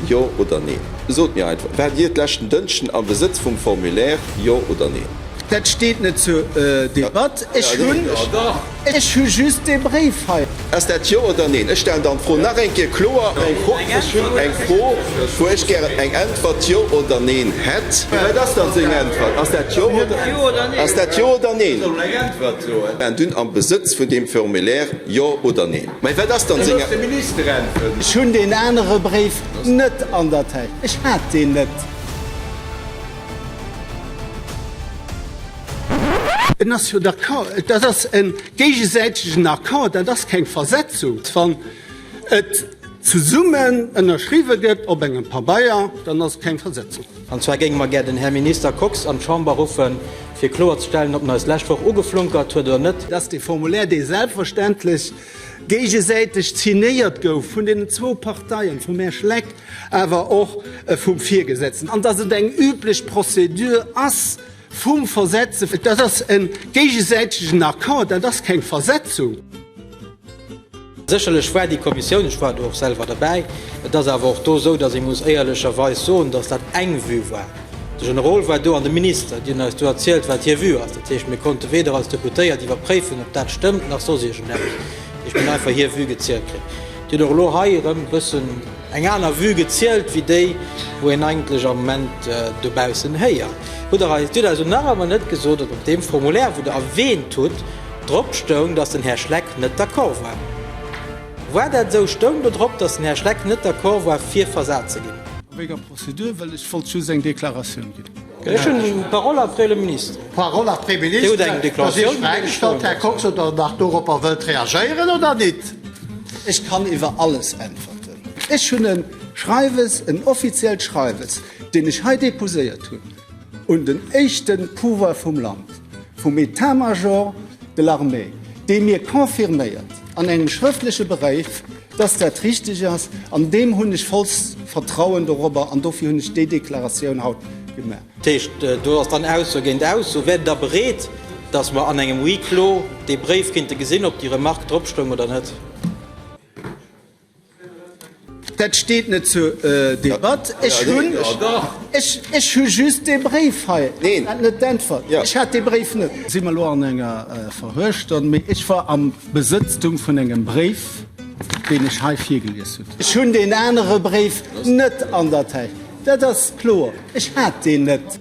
Jo oder Neen? Sot mir einfach, Waart Dir d'leschten Dënschden am Besëtz vum Formulaire, jo oder Neen? Dat steet net zur Debatt. Ech hu just dee Bréif hei. Ass dat Jo oder Neen? Ech stellen dann d'Fro nach eng Kéier kloer. Ech hunn eng Fro, wou ech gären eng Äntwert, Jo oder Neen, hätt. Wat ass dann seng Äntwert? Ass dat Jo oder Neen? Ass dat Jo oder Neen? Dunn am Besëtz vun deem Formulaire, Jo oder Neen? Mä wat ass dann senger Minister? Ech hunn deen anere Bréif net an der Täsch. Ech hat deen net. En ass jo d'accord. Dat ass e géigesäitegen Accord. Dat ass keng Versetzung. Wann et zesummen ënnerschriwwen gëtt op engem Pabeier, dann ass et keng Versetzung. An zwar géinge mer gär den Här Minister Kox an d'Chamber ruffe fir kloerzestellen, ob en eis d'lescht Woch ugeflunkert huet oder net, dass dee Formulaire, dee selbstverständlech géigesäiteg signéiert gouf vun deenen zwou Parteien, vum Här Schleck awer och vum Virgesetzten, an dass et eng üblech Prozedur ass vum Versetzen, dat ass e géigesäitegen Accord, dat ass keng Versetzung. Sécherlech war déi Kommissioun, ech war do och selwer derbäi, et ass awer och do esou, datt ee muss éierlecherweis soen, datt dat eng Vue war. De Generol war do an de Minister, déi hunn eis do erzielt, wat hir Vue ass. Dat heescht, mir konnte weder als Deputéiert iwwerpréifen, ob dat stëmmt, nach soss iergendeppes. Ech hunn einfach hir Vue gezielt kritt. Dir hutt och elo hei erëm e bëssen eng aner Vue gezielt wéi déi, wou een eigentlech am Moment dobaussen héiert. Hutt Der eis, Dir hutt eis och nach ëmmer net gesot, ob op deem Formulaire, wou Der erwähnt hutt, Drop stoung, dass den Här Schleck net d'accord war. War dat esou? Stoung do drop, dass den Här Schleck net d'accord war, fir versat ze ginn? A wéi enger Prozedur? Well ech wollt just eng Deklaratioun ginn. Ech hunn d'Parole après le ministre. D'Parole après le ministre. Dir hutt eng Deklaratioun gemaach. Ech hu sech d'Fra gestallt, Här Kox, ob Der nach doropper wëllt reagéieren oder nit. Ech kann iwwer alles äntwerten. Ech hunn e Schreiwes, en offiziellt Schreiwes, deen ech hei deposéiert hunn. Un den éischte Pouvoir vum Land, vum Etat-major de l'armée, dee mir confirméiert an engem schrëftleche Bréif, dass dat richteg ass, an deem hunn ech vollst Vertrauen dorobber, an dofir hunn ech déi Deklaratioun haut gemaach. Dat heescht, do ass dann Ausso géint Ausso. Wäert Der bereet, dass mer an engem Huis clos dee Bréif kinnte gesinn, ob déi Remarque dropstoung oder net? Dat steet net zur Debatt. Ech hu just dee Bréif hei an net d'Äntwert. Ech hat dee Bréif net. Si mer elo an enger verhuechter, mee ech war am Besëtztum vun engem Bréif, deen ech hei virgelies hunn. Ech hunn deen anere Bréif net an der Täsch. Dat ass kloer. Ech hat deen net.